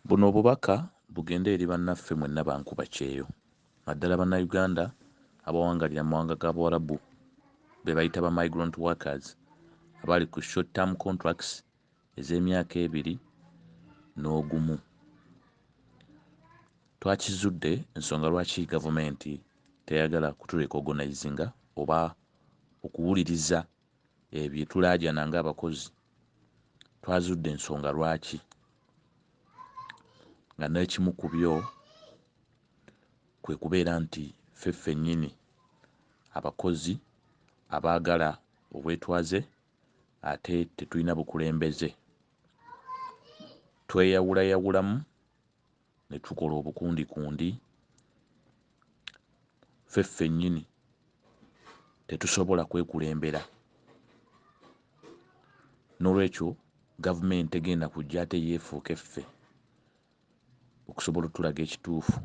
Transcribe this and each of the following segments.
Buno obubaka bugende eri bannaffe mwenna ba nkubakyeyo naddala Bannayuganda abawangalira mu mawanga ga Buwarabu be bayita ba migrant workers abali ku short term contracts ez'emyaka ebiri n'ogumu. Twakizudde ensonga lwaki gavumenti teyagala kuturecognizinga oba okuwuliriza Ebyo bye tulaajana ng'abakozi twazudde ensonga lwaki nga n'ekimu ku byo kwe kubeera nti ffe ffennyini abakozi abaagala obwetwaze ate tetulina bukulembeze tweyawulayawulamu ne tukola obukundikundi ffe ffennyini tetusobola kwekulembera n'olwekyo gavumenti tegenda kujja ate yeefuuke ffe okusobola otulaga ekituufu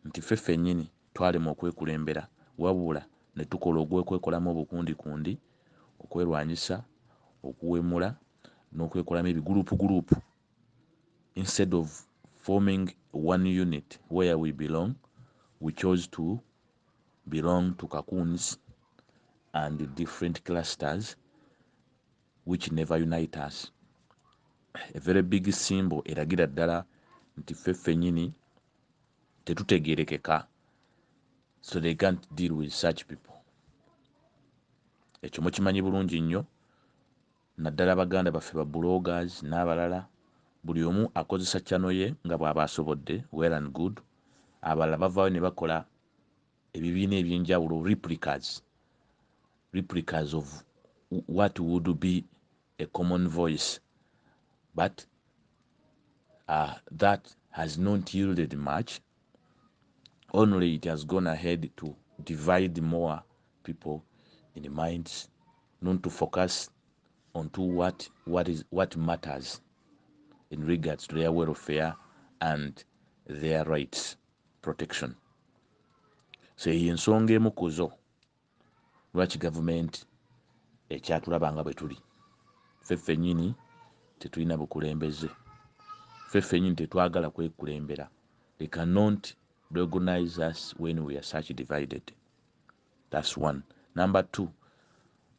nti ffe ffennyini twalema okwekulembera wabula ne tukola ogw'okwekolamu obukundikundi okwerwanyisa okuwemula n'okwekolamu ebiguluupuguluupu instead of forming one unit where we belong we chose to belong to kakuns and different clusters which never unite us a very big symbol eragira ddala nti ffe ffenyini tetutegerekeka so they can't deal with such people ekyo mukimanyi bulungi nnyo naddala baganda baffe ba bloggers nabalala buli omu akozesa channel ye nga bwaba asobodde well and good abalala bavaayo nebakola ebibiina ebyenjawulo replicas replicas of what would be a common voice but uh, that has not yielded much only it has gone ahead to divide more people in the minds non to focus on to what, what, is, what matters in regards to their welfare and their rights protection so eyo ensonga emu kuzo lwaki gavumenti ekyatulaba nga bwe tuli ffe ffennyini tetulina bukulembeze ffe ffennyini tetwagala kwekulembera they cannot recognize us when we are such divided That's one. Number two,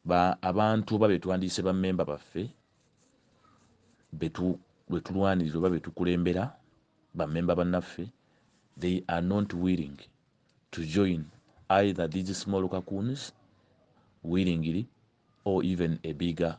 ba abantu oba betwandiyise ba memba baffe betu betulwanirira oba betukulembera ba memba bannaffe they are not willing to join either these small kakuns willingly or even a bigger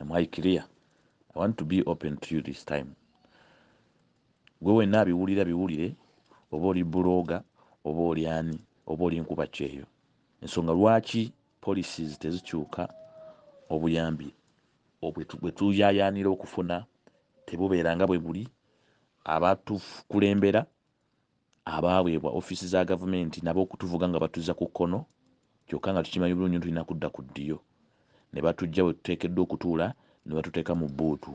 am i clear i want to be open to you this time gwe wenna abiwulira biwulire oba oli buloga oba oli ani oba oli nkuba kyeyo ensonga lwaki policies tezikyuka obuyambi bwetuyayanira okufuna tebubeera nga bwe buli abatukulembera abaaweebwa ofiisi za Gavumenti nabo okutuvuga nga batuzza ku kkono kyokka nga tukimanyi bulungi nti tulina kudda ku ddyo ne batuggya we tuteekeddwa okutuula ne batuteeka mu bbuutu.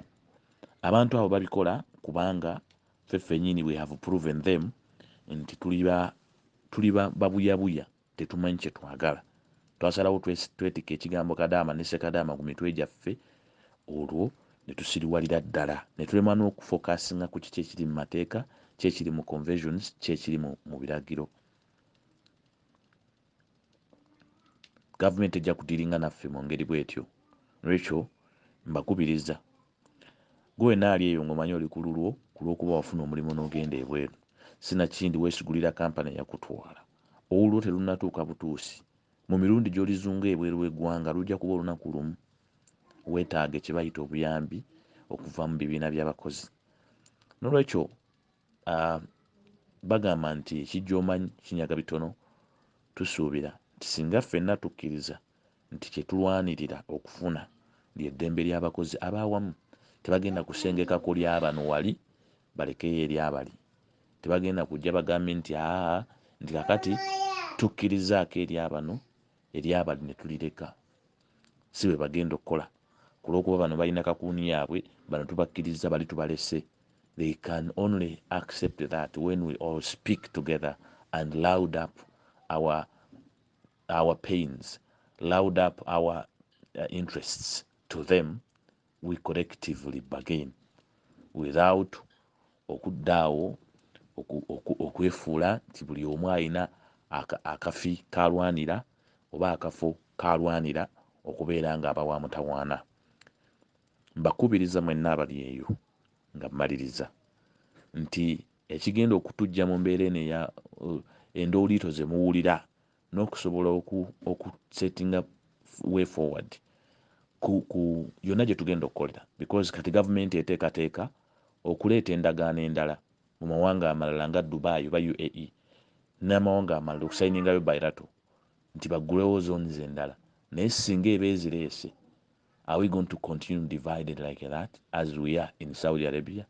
Abantu abo babikola kubanga ffe ffennyini we have proven them nti tuli ba tuli babuyabuya. Tetumanyi kye twagala. Twasalawo twetike ekigambo Kadaama ne Sekadaama ku mitwe gyaffe olwo ne tusiriwalira ddala ne tulemwa n'okufokasinga ku kiki ekiri mu mateeka, ki ekiri mu convesions, ki ekiri mu mu biragiro. Gavumenti tejja kudiiringa naffe mu ngeri bwetyo. N'olwekyo mbakubiriza gwe wenna ali eyo ng'omanyi oli ku lulwo ku lw'okuba wafuna omulimu n'ogenda ebweru, sinakindi weesigulira kampani eyakutwala. Olulwo terunnatuuka butuusi. Mu mirundi gy'olizunga ebweru w'eggwanga lujja kuba olunaku lumu. Weetaaga kye bayita obuyambi okuva mu bibiina by'abakozi. N'olwekyo, bagamba nti ekijja omanyi kinyaga bitono, tusuubira nti singa ffenna tukkiriza nti kye tulwanirira okufuna lye ddembe ly'abakozi ab'awamu. Tebagenda kusengeka ku lya bano wali balekeyo erya bali. Tebagenda kujja bagambye nti, Aa, nti kaakati tukkirizaako erya bano, erya bali ne tulireka. Si bwe bagenda okukola. Ku lw'okuba bano balina kakuuni yaabwe, bano tubakkirizza, bali tubalese. They can only accept that when we all speak together and loud up our our pains loud up our uh, interests to them we collectively bagain without okuddaawo okwefuula nti buli omu alina akafi kalwanira oba akafo kalwanira okubeera nga abawa mutawaana mbakubiriza mwenna abali eyo nga mmaliriza nti Ekigenda okutujja mu mbeera eno eya endooliito ze muwulira n'okusobola oku oku settinga way forward ku ku yonna gye tugenda okukolera because kati gavumenti eteekateeka okuleeta endagaano endala mu mawanga amalala nga Dubai oba UAE n'amawanga amalala okusayiningayo bilateral nti baggulewo zones endala naye ssinga eba ezireese are we going to continue divided like that as we are in Saudi Arabia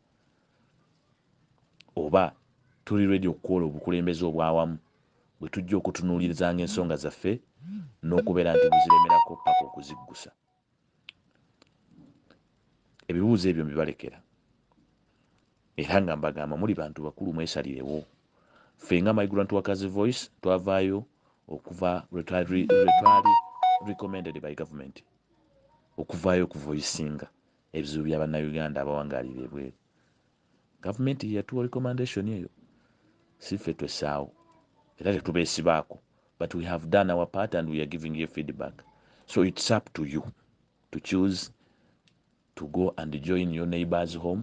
Oba tuli ready okukuola obukulembeze obwawamu bwetujja okutunulirzanga ensonga zaffe nokubera nti buziremerako paka okuziggusa? Ebibuuzo ebyo mbibalekera era nga mbagamba muli bantu bakulu mwesalirewo. Ffe nga Migrant Workers Voice twavayo okuva lwetwali recommended by government okuvayo okuvoisinga Ebizibu bya Bannayuganda abawangaalira ebweru, Gavumenti ye yatuwa recommendation eyo, si ffe twessaawo era tetubeesibaako but we have done our part and we are giving you feedback so it's up to you to choose to go and join your neighbors home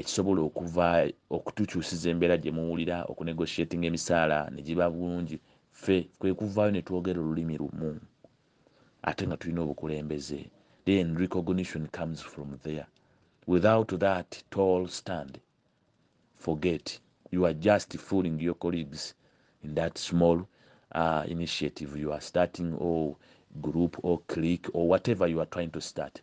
ekisobola okuva okutukyusiza embeera gye muwulira okunegotiatinga emisaala ne giba bulungi ffe kwe kuvaayo ne twogera olulimi lumu ate nga tulina obukulembeze then recognition comes from there without that tall stand forget you are just fooling your colleagues in that small uh, initiative you are starting or group or clique or whatever you are trying to start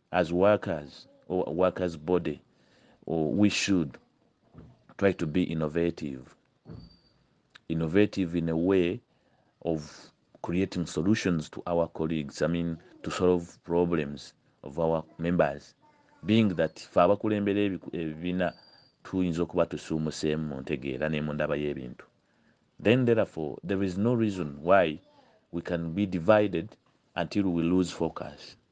as workers or workers body or we should try to be innovative innovative in a way of creating solutions to our colleagues i mean to solve problems of our members being that fe abakulembera ebibiina tuyinza okuba tusuumuseemu mu ntegeera ne mu ndaba y'ebintu then therefore there is no reason why we can be divided until we lose focus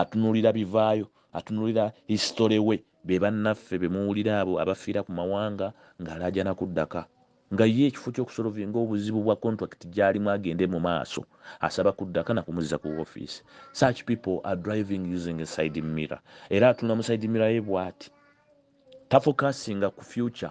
atunulira bivaayo atunulira history we be bannaffe be muwulira abo abafiira ku mawanga ng'alaajana kuddaka nga ye ekifo ky'okusolovinga obuzibu bwa contract gy'alimu agende mu maaso asaba kuddaka na kumuzza ku ofiisi such people are driving using a side mirror era atunula mu side mirror ye bw'ati tafokasinga ku future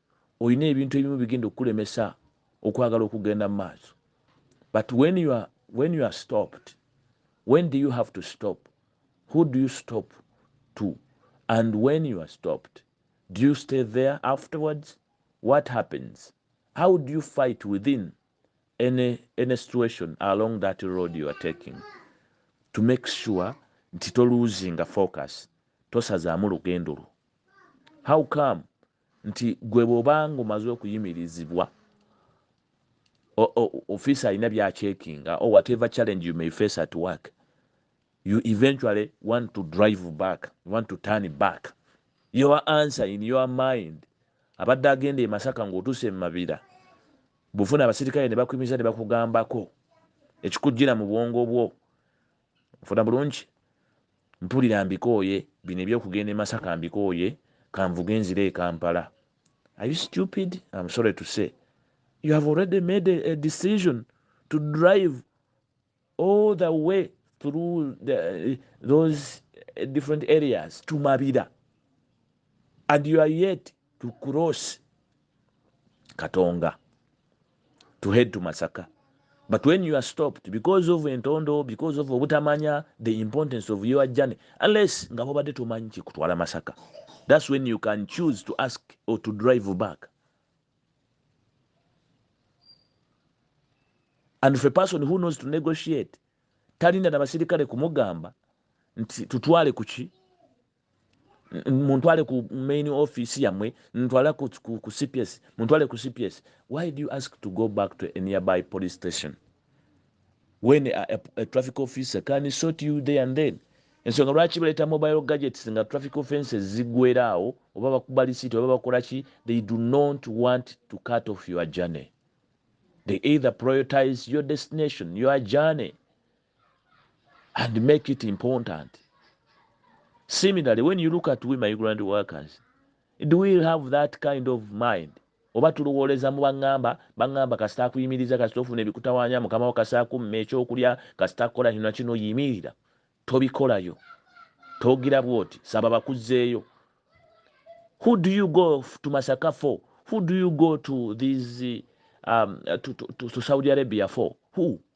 olina ebintu ebimu bigenda okukulemesa okwagala okugenda mu maaso but when you are, when you are stopped when do you have to stop who do you stop to and when you are stopped do you stay there afterwards what happens how do you fight within any, any situation along that road you are taking to make sure nti toluzinga focus tosazaamu lugendo lwo how come nti gwe bwobanga omaze okuyimirizibwa office alina byachekinga or whatever challenge you may face at work you eventually want to drive back you want to turn back your answer in your mind abadde agenda emasaka ngaotuuse emumabira bufuna abasirikale nebakuyimiza nebakugambako ekikujjira mu bwongo bwo Nfuna bulungi, mpulira mbikooye, bino eby'okugenda e Masaka mbikooye, kanvuge nzire e Kampala. Are you stupid? Am sorry to say you have already made a decision to drive all the way through the, those different areas to Mabira and you are yet to cross katonga to head to masaka but when you are stopped because of entondo because of obutamanya the importance of your journey unless nga bobadde tomanyi kikutwala masaka that's when you can choose to ask or to drive back and for a person who knows to negotiate talinda na basirikale kumugamba nti tutwale kuki muntwale ku main office yamwe ntwala ku, ku, ku cps muntwale ku cps why do you ask to go back to a nearby police station when a, a, a traffic officer can sort you there and then ensonga lwaki baleeta mobile gadgets nga traffic offenses zigweraawo oba bakuba lisiti oba bakola ki they do not want to cut off your journey they either prioritize your destination your journey and make it important similarly when you look at we migrant workers do we have that kind of mind oba tulowooleza mu baŋŋamba baŋŋamba kasita akuyimiriza kasita ofuna ebikutawaanya mukama wo kasita akumma ekyokulya kasita kukola kino nakino yimirira tobikolayo togira bwoti saba bakuzzeeyo who do you go to masaka for who do you go to these um, to, to, to, to saudi arabia for who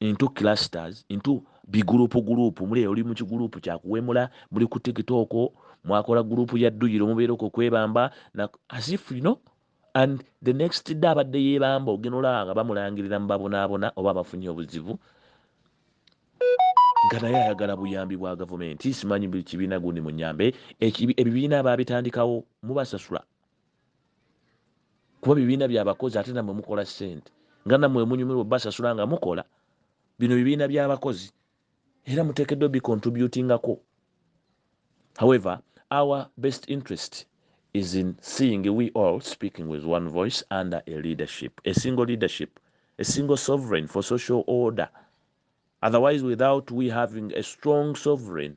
into clusters into bigurupu gurupu muli oli mu kigurupu kyakuwemula muli ku tiktok mwakola gurupu ya dduyiro mubeera okwo kwebamba as if you know and the next day abadde yebamba ogenda olaba nga bamulangirira mu babonaabona oba abafunye obuzibu nga naye ayagala buyambi bwa gavumenti simanyi buli kibiina gundi munyambe ebibiina baabitandikawo mubasasula kuba bibiina byabakozi ate namwe mukola sente nga namwe munyumirwa basasula nga mukola bino bibiina byabakozi era mutekeddwa bicontributingako however our best interest is in seeing we all speaking with one voice under a leadership a single leadership a single sovereign for social order otherwise without we having a strong sovereign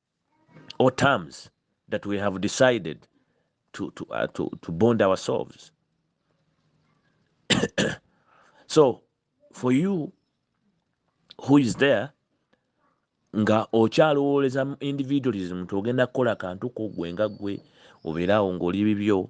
or terms that we have decided to, to, uh, to, to bond ourselves. so for you who is there nga okyalowooleza individualism nti ogenda kukola kantu ko gwe nga gwe obeeraawo ng'oli bibyo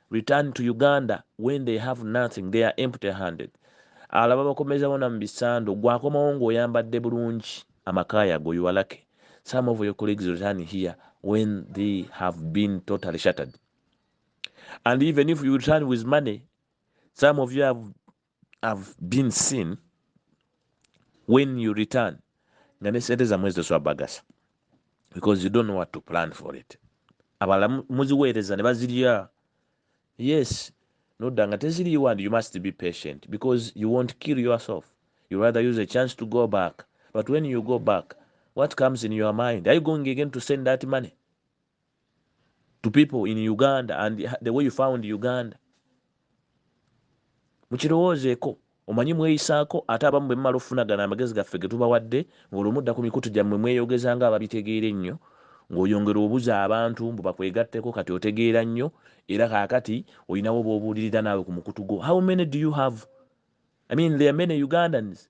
Return to Uganda when they have nothing they are empty handed abalala babakomeza bona mubisando gwe akomawo nga oyambadde bulungi amaka yago your lucky some of your colleagues return here when they have been totally shattered and even if you return with money some of you have have been seen when you return nga ne sente zamwe zitoswabagasa because you don't know what to plan for it abala muziweereza ne bazirya yes nodda nga teziriiwo and you must be patient because you won't kill yourself you rather use a chance to go back but when you go back what comes in your mind are you going again to send that money to people in uganda and the way you found uganda mukirowoozeeko omanyi mweyisaako ate abamu bwe mumala okufuna gano amagezi gaffe ge tubawadde ng'olwo mudda ku mikutu gyammwe mweyogeza nga ababitegeera ennyo ng'oyongera obuza abantu mbu bakwegatteko kati otegeera nnyo era kaakati olinawo b'obuulirira naawe ku mukutu gwo how many do you have i mean there many ugandans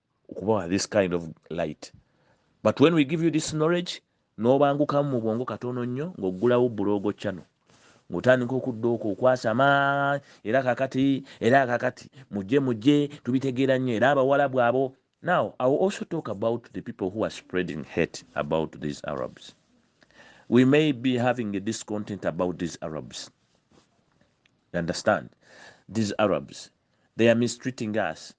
okubawa this kind of light but when we give you this knowledge nobangukamu mu bwongo katono nnyo ng'oggulawo buloogo channel ng'otandika okudda okwo okwasama era kakati era kakati mujje mujje tubitegeera nnyo era abawalabu abo now i will also talk about the people who are spreading hate about these arabs we may be having a discontent about these arabs you understand these arabs they are mistreating us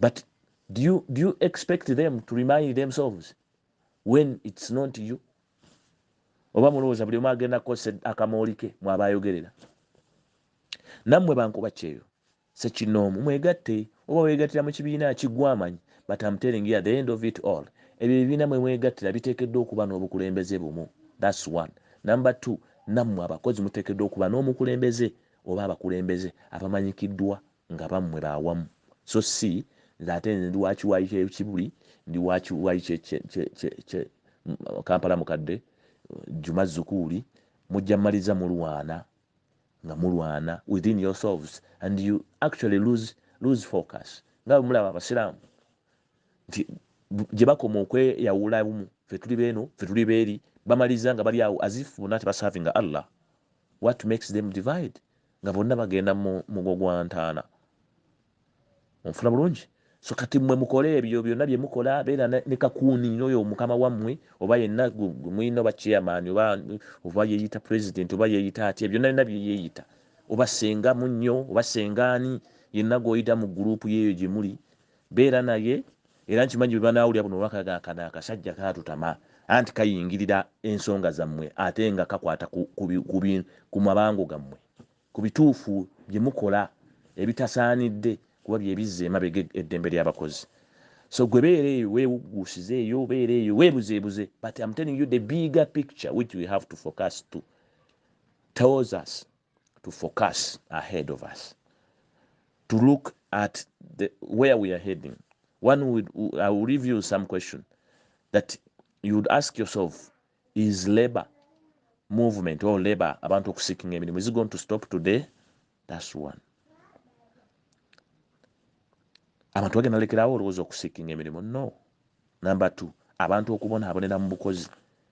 but do you, do you expect them to remind themselves when it's not you oba mulowooza buli omu agenda kukozesa akamooli ke mwaba ayogerera nammwe bankuba kyeyo sekinoomu mwegatte oba weegattira mu kibiina kigwamanyi but am telling you at the end of it all ebyo ebibiina mwe mwegattira biteekeddwa okuba n'obukulembeze bumu thats one number two nammwe abakozi muteekeddwa okuba n'omukulembeze oba abakulembeze abamanyikiddwa nga bammwe ba wamu so si nze ate nze ndi wa kiwayi kye Kibuli, ndi wa kiwayi kye kye kye kye kye Kampala mukadde, Juma Zukuuli, mujja mmaliza mulwana nga mulwana within yourselves and you actually lose lose focus nga bwe mulaba Abasiraamu nti gye bakoma okweyawula bumu ffe tuli beeno ffe tuli beeri bamaliza nga bali awo as if bonna tebasavinga Allah what makes them divide nga bonna bagenda mu mugo gwa ntaana onfuna bulungi so kati mwe mukole ebyo byonna bye mukola beera ne kakuuni noyo omukama wammwe oba yenna mwina oba chairman oba oba yeeyita president oba yeeyita atya byonna byonna bye yeeyita oba senga munnyo oba sengaani yenna gw'oyita mu guruupu yeeyo gye muli Beera naye era nkimanyi bwebanaawulira buno obubaka kano akasajja kaatutama anti kayingirira ensonga zammwe ate nga kakwata ku mabango gammwe, ku bituufu bye mukola ebitasaanidde kuba bye bizza emabega eddembe ly'abakozi so gwe beera eyo weewugguusize eyo beera eyo weebuzeebuze but am telling you the bigger picture which we have to focus to towards us. to focus ahead of us to look at the, where we are heading one would, i will leave you some question that you would ask yourself is labor movement or labor abantu okusikinga emirimu is going to stop today thats one abantu bagenda lekerawo olowooza okusikinga emirimu no number two abantu okubonaabonera mu bukozi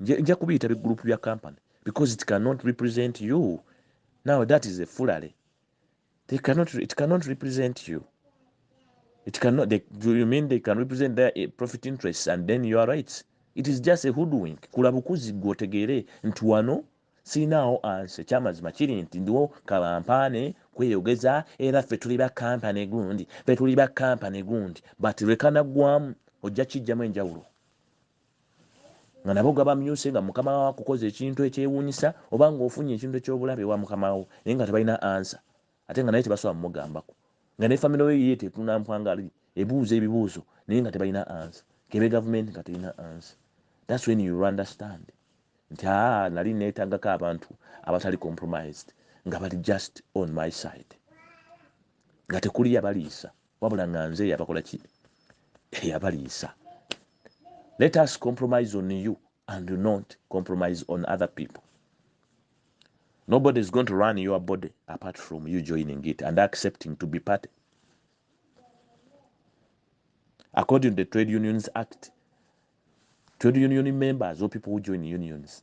nja kubiyita bi group bya company because it cannot represent you now that is a fulale they cannot it cannot represent you it cannot they, do you mean they can represent their eh, profit interests and then you are right it is just a hoodwink kula bukuzi gwotegeere nti wano sinaawo ansi ekyamazima kiri nti ndiwo kabampaane kweyogeza era ffe tuli ba kampani gundi fe tuli ba kampani gundi but lwekanaggwamu ojja kijjamu enjawulo nga nabo gabamyuse nga mukama wawo akukoze ekintu ekyewunyisa oba nga ofunye ekintu ekyobulabe ewa mukama wo naye nga tebalina ansa ate nga naye tebasobola mumugambako nga ne family yo yiye tetuna mpwangali ebuuza ebibuuzo naye nga tebalina ansa kebe gavumenti nga terina ansa that's when you understand nti aa nali netagako abantu abatali compromised nga bali just on my side nga tekuli yabaliisa wabula nga nze yabakola ki eyabaliisa let us compromise on you and do not compromise on other people nobody is going to run your body apart from you joining it and accepting to be party according to the trade unions act trade union members or people who join unions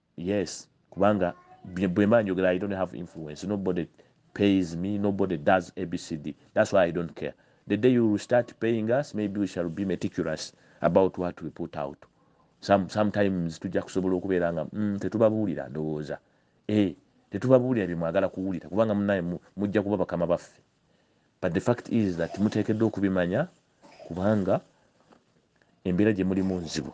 Yes kubanga bwemba njogera I don't have influence nobody pays me nobody does abcd that's why I don't care the day you start paying us maybe we shall be meticulous about what we put out some sometimes tujja kusobola okubeera nga mm, tetubabuulira ndowooza eh tetubabuulira bye mwagala kuwulira kubanga munaye mujja kuba bakama baffe but the fact is that muteekeddwa okubimanya kubanga embeera gye mulimu nzibu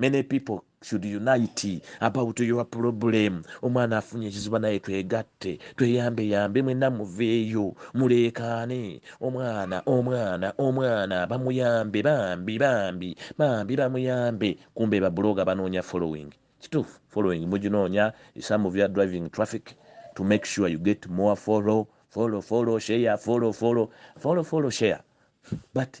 many people should unite about your problem omwana afunye ekiziba naye twegatte tweyambe yambe mwena muveeyo muleekaane omwana omwana omwana bamuyambe bambi bambi bambi bamuyambe kumbe babuloga banoonya following kituufu following muginoonya some of your driving traffic to make sure you get more follow follow follow share follow follow follow follow share but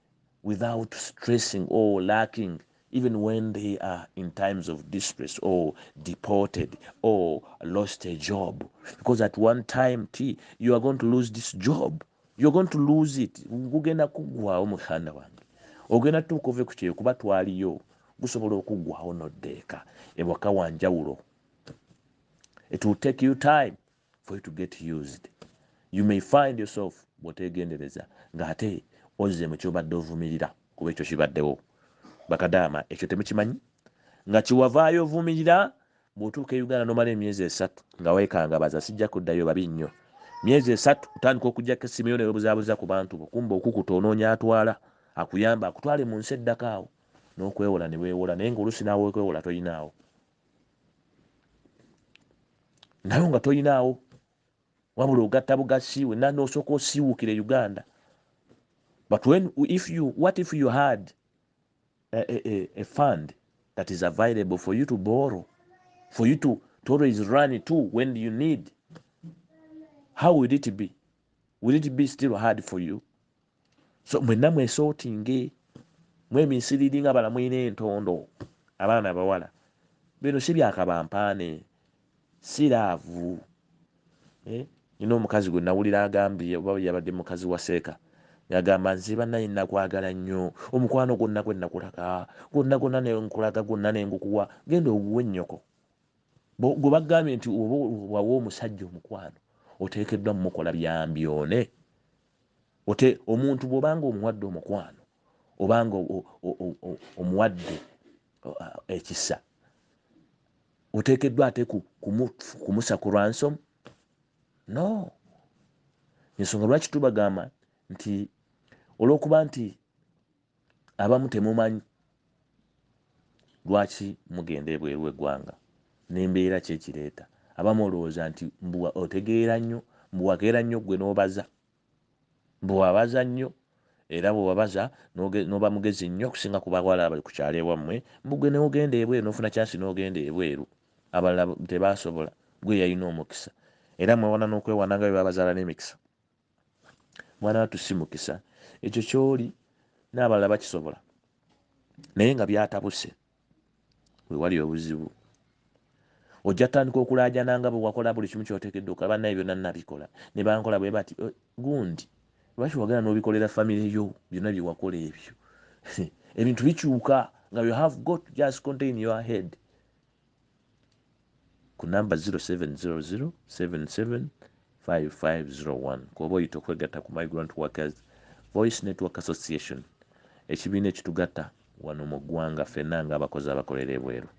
without stressing or lacking even when they are in times of distress or deported or lost a job because at one time t you are going to lose this job you're going to lose it gugenda kuggwawo mukhanda wange ogenda tuuka ove ku kyeyo kuba twaliyo gusobola okuggwawo noddeeka ewaka wanjawulo it will take you time for you to get used you may find yourself bwotegendereza nga ate ozze mu kyobadde ovumirira kuba ekyo kibaddewo bakadaama ekyo temukimanyi nga kiwavaayo ovumirira bwotuuka e uganda nomala emyezi esatu nga wekangabaza sijja kuddayo babi nnyo myezi esatu otandika okujjako essimu yo newebuzabuza ku bantu bokumba okukuta onoonya atwala akuyamba akutwale mu nsi eddako awo nokwewola newewola naye nga olusi nawe okwewola toyinaawo nayo nga toyinaawo wabula ogatta bugasi wena nosooka osiiwukira e uganda but when, if you, what if you had a, a, a, a fund that is available for you to borrow for you to, to always run to when you need how will it be will it be still hard for you so mwenna mwesotinge mweminsiriri nga bala mulina entondo abaana abawala bino si byakabampaane si laavu eh, nina omukazi gwe nawulira agambye oba yabadde mukazi wa seeka yagamba nze banaye nakwagala nnyo omukwano gwonna gwe nakulaga gwonna gwonna nenkulaga gwonna nengukuwa genda oguwe nnyoko gwe bagambye nti oba wawa omusajja omukwano oteekeddwa mumukola byambyone Ote, omuntu bwoba nga omuwadde omukwano oba nga omuwadde ekisa oteekeddwa ate kumusa ku ransom no ensonga lwaki tubagamba nti olwokuba nti Abamu temumanyi lwaki mugenda ebweru wegwanga nembeera ki ekireeta abamu olowooza nti mbu otegeera nnyo mbu wakeera nnyo gwe nobaza mbu wabaza nnyo era bwewabaza noba mugezi nnyo okusinga ku bawala abali ku kyalo ewammwe mbu gwe newogenda ebweru nofuna kyansi nogenda ebweru abalala tebasobola gwe eyalina omukisa era mwewana nokwewana nga bwebabazaala nemikisa. mwana watu si mukisa ekyo kyoli n'abalala bakisobola naye nga byatabuse wewali obuzibu ojja tutandika okulaajana nga bwewakola buli kimu kyotekedde okola bannaye byonna nabikola ne bankola bwe bati eh, gundi lwaki wagala n'obikolera famire yo byonna byewakola ebyo ebintu bikyuka nga you have got just contain your head ku namba 0700775501 kwoba oyita okwegatta ku migrant workers voice network association ekibiina ekitugatta wano mu ggwanga fenna nga abakozi abakolera ebweru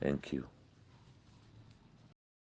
thank you